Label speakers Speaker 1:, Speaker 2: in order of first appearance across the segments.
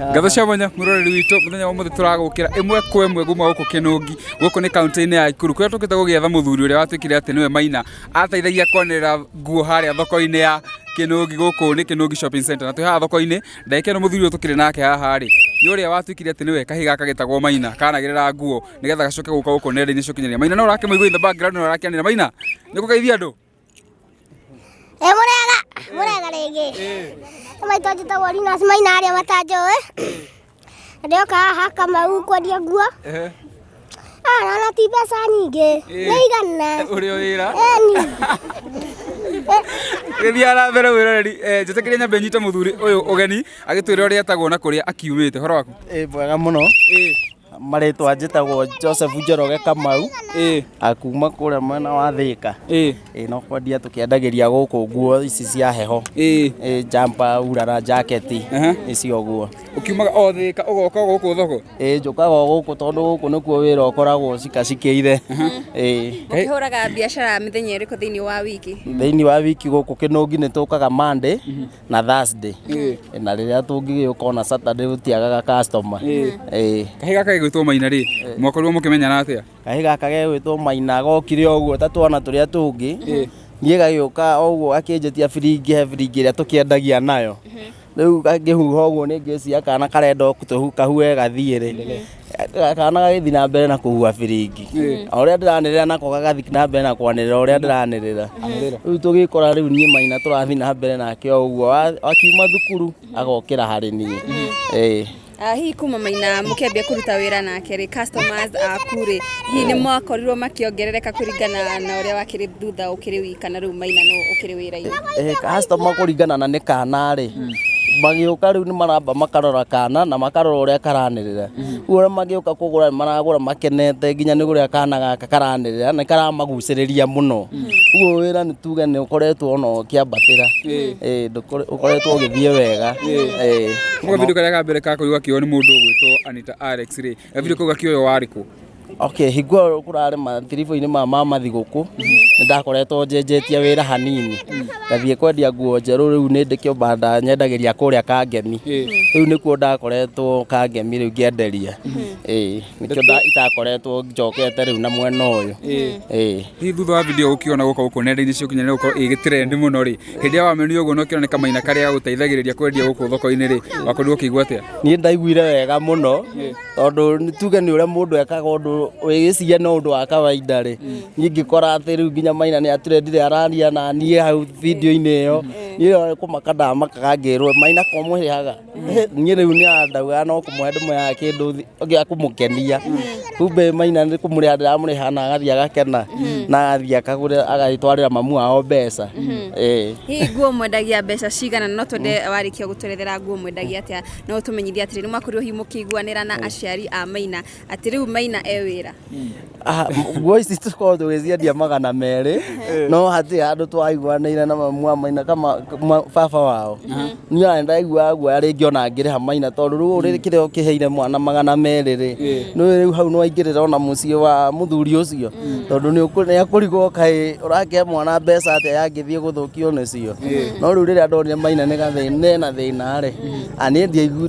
Speaker 1: Ngatho cia mwanya muroreri witũ muthenya wa muthi turagukira imwe kwa imwe gumwa guku kinungi guku ni kaunti-ini ya Ikuru kuria tukite gugietha muthuri uria watuikire ati niwe Maina ateithagia kwanirira nguo haria thoko-ini ya kinungi guku ni kinungi shopping center na twi haha thoko-ini ndagika ino muthuri uyu tukiri nake haha ri ni uria watuikire ati niwe kahi gaka gitagwo Maina kanagirira nguo nigetha gacoke guka guku nenda-ini cia ukinyanĩria Maina no urakimuigua in the background no arakianira Maina nikugeithia andu ĩ mũrega
Speaker 2: mũrega rĩngĩ maitũ njĩtagwo Linus Maina arĩa matanjũĩ ndĩoka haha Kamau kwendia nguo Ah, na na ti mbeca nyingĩ nĩ igana ũrĩ o wĩra eni
Speaker 1: gĩthiaga na mbere wĩroreri Eh, njĩtĩkĩria nyambe nyite mũthuri ũyũ ũgeni agĩtwĩra ũrĩa etagwo na kũrĩa akiumĩte horo waku ĩ mwega mũno
Speaker 3: Eh, marĩtwa njĩtagwo joseph njoroge kamau ĩ akuma kũrĩa mwena wa thĩka ĩ ĩ no kwendia tũkĩendagĩria gũkũ nguo ici cia heho ĩ ĩ jampa urara jaketi Aha. icio guo ukiumaga o thika
Speaker 1: ugoka guku thoko ĩ njũkaga o gũkũ
Speaker 3: tondũ gũkũ nĩkuo wĩra ũkoragwo cikacikĩire ĩ
Speaker 4: ũkĩhũraga biacara mĩthenya ĩrĩkũ thĩinĩ wa wiki thĩinĩ wa wiki gũkũ
Speaker 3: kĩnũngi nĩ tũkaga monday na Thursday na rĩrĩa tũngĩgĩũka ona Saturday gũtiagaga customer ĩĩ kahä
Speaker 1: gaka gegwĩtwo maina rä mwakorirwo må kä menyana atä a kahĩ gaka gegwĩtwo
Speaker 3: maina gokire ũguo ta twana tũrĩa tũngĩ niĩ gagĩũka ũguo gakĩnjĩtia biringi he biringi ĩrĩa tũkĩendagia nayo rĩu ngakĩhuha ũguo nĩ ngĩciria kana karenda o kũhua gathiĩ rĩ kana gagĩthi na mbere na kũhua biringi o ũrĩa ndĩranĩrĩra nako gagathi na mbere na kwanĩrĩra o ũrĩa ndĩranĩrĩra rĩu tũgĩkora rĩu niĩ maina tũrathi na mbere nake o ũguo Wa- akiuma thukuru agokĩra harĩ niĩ Ĩĩ. Ah, hihi kuma
Speaker 4: maina mũkĩambia kũruta wĩra nake rĩ customers aku rĩ hihi nĩ mwakorirwo makĩongerereka kũringana na ũrĩa wakĩrĩ thutha ũkĩrĩ wiki kana rĩu maina nũ ũkĩrĩ wĩra-inĩ Eh, customer kũringana na
Speaker 3: nĩ kana rĩ magĩũka rĩu nĩ maramba makarora kana na makarora ũrĩa karanĩrĩra rĩu ũrĩa magĩũka kũgũra nĩ maragũra makenete nginya nĩ ũrĩa kana gaka karanĩrĩra nĩ karamagucĩrĩria mũno ũguo wĩra nĩ tuge nĩ ũkoretwo ona ũkĩambatĩra Eh, ndũkore- ũkoretwo ũgĩthiĩ wega Eh, Nĩ kavidio
Speaker 1: karĩa ka mbere ka kũigua kiugo nĩ mũndũ ũgwĩtwo Anita Alex rĩ Ebire kuga kioyo warĩ kũ? Okay, hingo ĩyo
Speaker 3: kũrarĩ matiribũ-inĩ ma mama thigũkũ, nĩ ndakoretwo njenjetie wĩra hanini. Ngathiĩ kwendia nguo njerũ rĩu nĩ ndĩ kĩbanda nyendagĩria kũrĩa Kangemi. Rĩu nĩkuo ndakoretwo Kangemi rĩu ngĩenderia. Ĩĩ, nĩkĩo nda- itakoretwo njokete rĩu na mwena ũyũ. Ĩĩ. Hihi
Speaker 1: thutha wa video ũkiona gũka gũkũ nenda-inĩ cia ũkinyanĩria gũkorwo ĩgĩ trend mũno rĩ, hĩndĩ ĩrĩa wamenyire ũguo na ũkĩona nĩ kamaina karĩa gagũteithagĩrĩria kwendia gũkũ thoko-inĩ rĩ wakorirwo ũkĩigua atĩa niĩ ndaiguire wega
Speaker 3: mũno tondũ nĩ tuge nĩ ũrĩa mũndũ ekaga ũndũ wĩgĩciria nĩ ũndũ wa kawaida rĩ niĩ ngĩkora atĩ rĩu nginya maina nĩ aturendire araria na niĩ hau video-inĩ ĩyo niĩ kũmaka ndamakaga ngĩrwo maina ko mũhĩaga niä rä u nä andauga no kå mwe ndä mwe ya kä ndå gä a kå må kenia kumbe maina nä kå må rä a ndä ramå rä ha na agathiä agakena na agathiä akagå rä agagä twarä ra mamu wao mbeca Ĩĩ. hihi
Speaker 4: nguo mwendagia mbeca cigana na no twende warĩkia gũtwerethera nguo mwendagia atĩa no ũtũmenyithie atĩrĩ nĩ mwakorirwo hihi mũkĩiguanĩra na aciari a maina Atĩ rĩu Maina e wĩra. Ah, m-
Speaker 3: nguo ici tũkorwo tũgĩciendia magana merĩ no hatĩ handũ twaiguanĩire na mamu wa maina kama ma- baba wao niĩ ona ndaiguaga guoya rĩngĩ ona ngĩrĩha maina tondũ rĩu ũrĩ kĩrĩa ũkĩheire mwana magana merĩ rĩ nĩ rĩu hau nĩwaingĩrĩra ona mũciĩ wa mũthuri ũcio tondũ nĩ ũkũ- nĩ akũrigwo kaĩ ũrakĩhe mwana mbeca atĩa yangĩthiĩ gũthũkio nĩcio no rĩu rĩrĩa ndonire maina nĩ gathĩna na thĩna rĩ a niĩ ndiaigu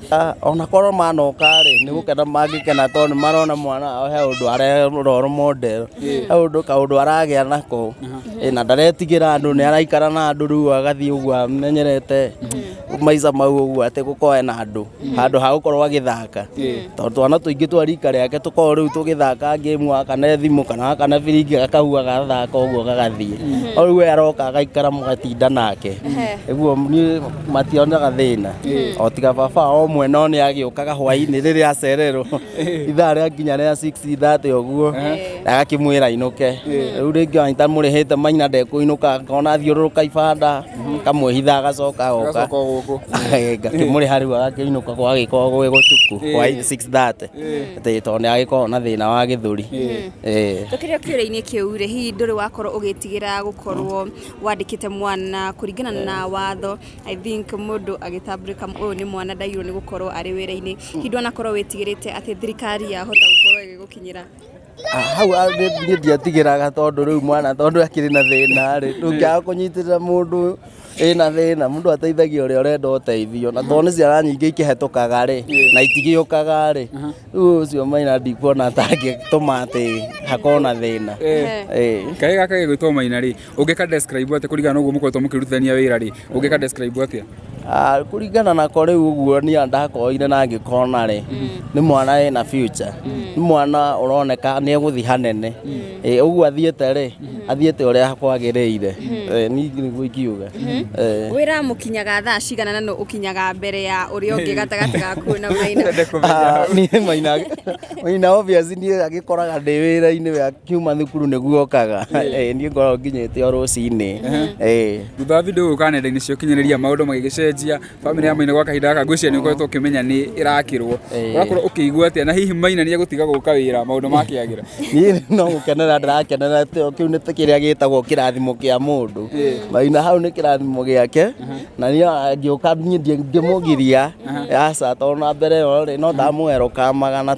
Speaker 1: Ah, ona korwo
Speaker 3: manoka-rĩ nĩ gũkena mangĩkena tondũ nĩ marona mwana wao he ũndũ arerorwo model he ũndũ kaũndũ aragĩa nako Ĩ, na ndaretigĩra andũ nĩ araikara na andũ rĩu agathiĩ ũguo amenyerete maica mau ũguo atĩ gũkorwo ena andũ handũ ha gũkorwo agĩthaka tondũ twana tũingĩ twa rika rĩake tũkoragwo rĩu tũgĩthaka ngĩmu gaka na thimũ kana gaka na biringi gakahua gathaka ũguo gagathiĩ no rĩu we aroka agaikara mũgatinda nake ũguo niĩ mationaga thĩna o tiga baba o mwe no nĩ agĩũkaga hwainĩ rĩrĩa acererwo ithaa rĩa nginya rĩa 6:30 ũguo agakĩmwĩra ainũke rĩu rĩngĩ anyita mũrĩhĩte maina ndekũinũka ngona athiũrũrũka ibanda kamwĩhitha agacoka agoka Agacoka o gũkũ. ngakĩmũrĩha rĩu agakĩinũka gwagĩkorwo gwĩ gũtuku hwainĩ 6:30 atĩ tondũ nĩ agĩkoragwo na thĩna wa gĩthũri Eh. tũkĩrĩ
Speaker 4: o kĩũrĩa-inĩ kĩu rĩ hihi ndũrĩ wakorwo ũgĩtigĩra gũkorwo wandĩkĩte mwana kũringana na watho i think mũndũ agĩtambũrĩka ũyũ nĩ mwana ndagĩrĩirwo nĩ gũkorwo arĩ wĩra-inĩ hihi ndwanakorwo wĩtigĩrĩte atĩ thirikari yahota gũkorwo ĩgĩgũkinyĩra Ah, hau
Speaker 3: ah, nĩ- niĩ ndiatigĩraga tondũ rĩu mwana tondũ akĩrĩ na thĩna rĩ ndũngĩaga kũnyitĩrĩra mũndũ ĩna thĩna mũndũ ateithagia ũrĩa ũrenda ũteithio na tondũ nĩ ciana nyingĩ ikĩhetũkaga rĩ na itigĩũkaga rĩ Rĩu ũcio maina ndikuona ta angĩtũma atĩ hakorwo na thĩna Eh. Eh. kaĩ
Speaker 1: gaka gĩgwĩtwo maina rĩ ũngĩ ka describe atĩ kũringana na ũguo mũkoretwo mũkĩrutithania wĩra rĩ ũngĩ ka describe atĩa Ah, kũringana
Speaker 3: nako rĩu ũguo niĩ ndakoire na ngĩkona rĩ nĩ mwana ena future nĩ mwana ũroneka nĩ egũthiĩ hanene Eh, uguo athiĩte rĩ athiĩte ũrĩa kwagĩrĩire Eh, ni nĩguo ingiuga Eh. wĩra
Speaker 4: mũkinyaga thaa cigana na nũ ũkinyaga mbere ya ũrĩa ũngĩ gatagatĩ gaku na maina
Speaker 3: Ah, niĩ maina maina obvious niĩ agĩkoraga ndĩ wĩra-inĩ wa kiuma thukuru nĩguo okaga Eh, niĩ ngoragwo nginyĩte o rũcinĩ Eh. thutha wa
Speaker 1: video gũka nenda-inĩ cia ũkinyanĩria maũndũ magĩgĩcenjia Family ya Maina gwa kahinda gaka ngwĩciria nĩ ũkoretwo ũkĩmenya nĩ ĩrakĩrwo. Eh. Ũrakorwo ũkĩigua atĩa na hihi Maina nĩ egũtiga gũka wĩra maũndũ makĩagĩra? niĩ no
Speaker 3: gũkenera ndĩrakenera tĩo kĩu nĩ kĩrĩa gĩtagwo kĩrathimo kĩa mũndũ maina hau nĩ kĩrathimo gĩake na niĩ angĩũka niĩ ndingĩmũgiria aca tondũ na mbere ĩyo rĩ no ndamũwerũkamaga na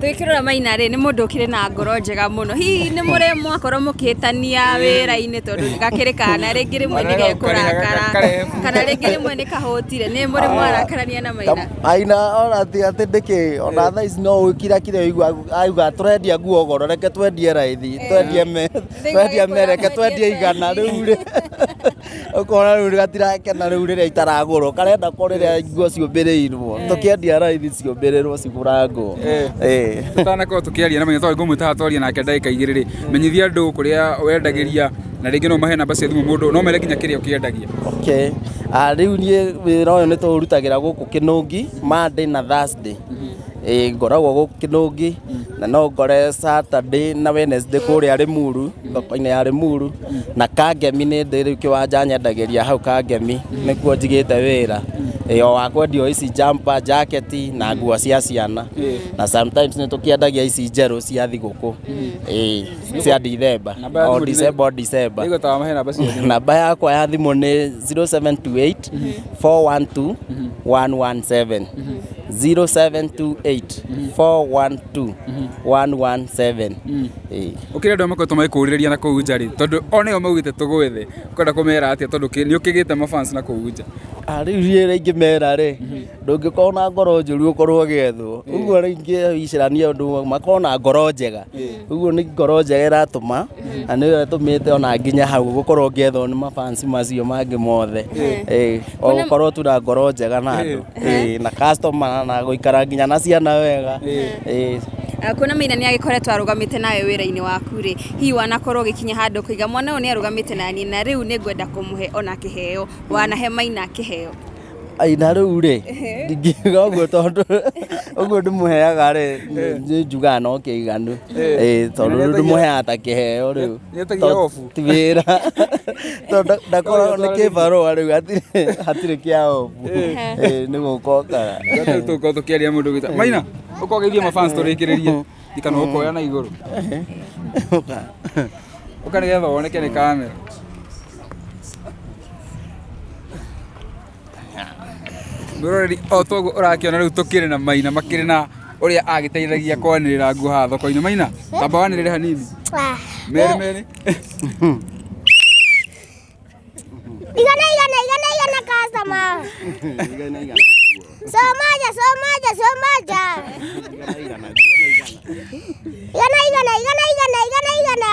Speaker 4: Twĩkĩrora Maina rĩ nĩ mũndũ ũkĩrĩ na ngoro njega mũno. Hihi nĩ mũrĩ mwakorwo mũkĩhĩtania wĩra-inĩ tondũ gakĩrĩ kana rĩngĩ rĩmwe nĩ gekũrakara kana rĩngĩ rĩmwe nĩ kahũtire. Nĩ mũrĩ mwarakarania na Maina? Maina ona
Speaker 3: atĩ atĩ ndĩkĩ ona thaa ici no ũkira kire auga tũrendia nguo goro reke twendie raithi twendie me twendie me reke twendie igana rĩu rĩ ukona riu gatirakena riu riria itaragurwo karenda ko riria nguo ciumbirirwo tukiendia raithi ciumbirirwo cigurangwo Eh.
Speaker 1: tutanakorwo tukiaria na menyetho ngumwe taha twaria nake ndagika igiri ri menyithia andu kuria wendagiria na ringi no mahe namba cia thimu mundu no mere nginya kiria ukiendagia okay Ah,
Speaker 3: riu niä wä ra å yå nä tå rutagä ra gå kå kä nå ngi monday na thursday Ĩĩ, ngoragwo gå kä nå ngi na no ngore saturday na wednesday kå rä a rä muru thoko-inä ya rä muru na kangemi nä ndä rä u kä wanja nyendagä hau kangemi nä kuo njigä te wä ra yo wa kwendio ici jampa jaketi na nguo cia ciana na sometimes nä tå kä endagia ici njerå cia thigå kå cia ndithemba Namba ya o thimũ nĩ- ndicemba o ndicemba Nĩguo tawa mahe namba ciothe. namba yakwa ya thimå nä 0728 412 117 0728 412 117 Ĩĩ.
Speaker 1: Gũkĩrĩ andũ arĩa makoretwo magĩkũrĩrĩria na kũu nja rĩ, tondũ o nĩo maugĩte tũgwe thĩ, ũkwenda kũmera atĩa tondũ kĩ- nĩ ũkĩgĩte mafans na kũu nja? Ah, rĩu niĩ rĩngĩ
Speaker 3: mera rĩ ndũngĩkorwo na ngoro njũru ũkorwo ũgĩethwo ũguo rĩngĩ icirania ũndũ ũmwe makorwo na ngoro njega ũguo nĩ ngoro njega ĩratũma na nĩyo ĩtũmĩte ona nginya hau gũkorwo ngĩethwo nĩ mabans macio mangĩ mothe Ĩĩ. o Kwĩna- gũkorwo tu na ngoro njega na andũ Ĩĩ, na customer na gũikara nginya na ciana wega Ĩĩ. Ah,
Speaker 4: kuona maina nä agä koretwo arå gamä te nawe wä ra-inä waku rä hihi wanakorwo å gä kinya handå kå iga mwana å yå nä arå gamä te nani na rä u nä ngwenda kå må he ona kä heo wanahe maina kä heo Ai, na
Speaker 3: rĩu rĩ ndingiuga ũguo tondũ ũguo ndĩmũheaga rĩ njugaga no kĩiganu Ĩĩ, tondũ rĩu ndĩmũheaga ta kĩheo rĩu Nĩetagia obu. ti wĩra tondũ nda- ndakoragwo nĩ kĩbarũa rĩu hatirĩ- hatirĩ kĩa obu Eh, nĩ gũkokaga Rĩu tũkorwo tũkĩaria
Speaker 1: mũndũ gwĩta. Maina, ũkogeithia mafans tũrĩkĩrĩrie. Ikana ũkoya na igũrũ. Ũka nĩgetha woneke nĩ kamera. Mwĩroreri o toguo ũrakĩona rĩu tũkĩrĩ na maina makĩrĩ na ũrĩa agĩteithagia kwanĩrĩra nguo haha thoko-inĩ maina tamba wanĩrĩre hanini merĩ merĩ
Speaker 2: Igana igana igana igana kasama. Somaja somaja somaja. Igana igana igana igana igana igana.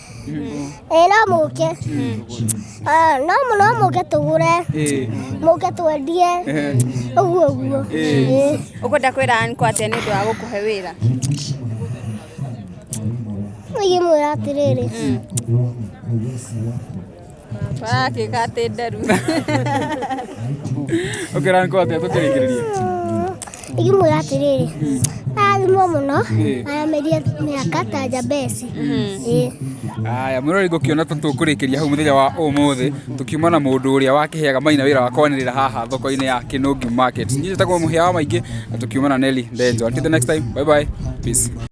Speaker 2: ĩĩ no mũke Ah, no mũ- no mũke tũgũre mũke twendie ũguo ũguo Ĩĩ.
Speaker 4: ũkwenda kwĩra ankwa atĩa nĩ ũndũ wa gũkũhe wĩra
Speaker 2: ingĩmwĩra atĩrĩrĩ
Speaker 4: Warakĩgatĩ nderu.
Speaker 1: Ũkĩra nĩ kwatĩa tũkĩrĩkĩrĩria.
Speaker 2: Ikĩmwĩra atĩrĩrĩ, arathimwo mũno, arameria mĩaka ta njambeci.
Speaker 1: Ĩĩ. Aya mwĩrori ngũkĩona ta tũkũrĩkĩria hau mũthenya wa ũmũthĩ tũkiuma na mũndũ ũrĩa wakĩheaga maina wĩra wa kwanĩrĩra haha thoko-inĩ ya Kinungi Market. Niĩ njĩtagwo mũhĩa wa maingĩ na tũkiuma na Nelly Ndenjo. Until the next time, bye bye. Peace.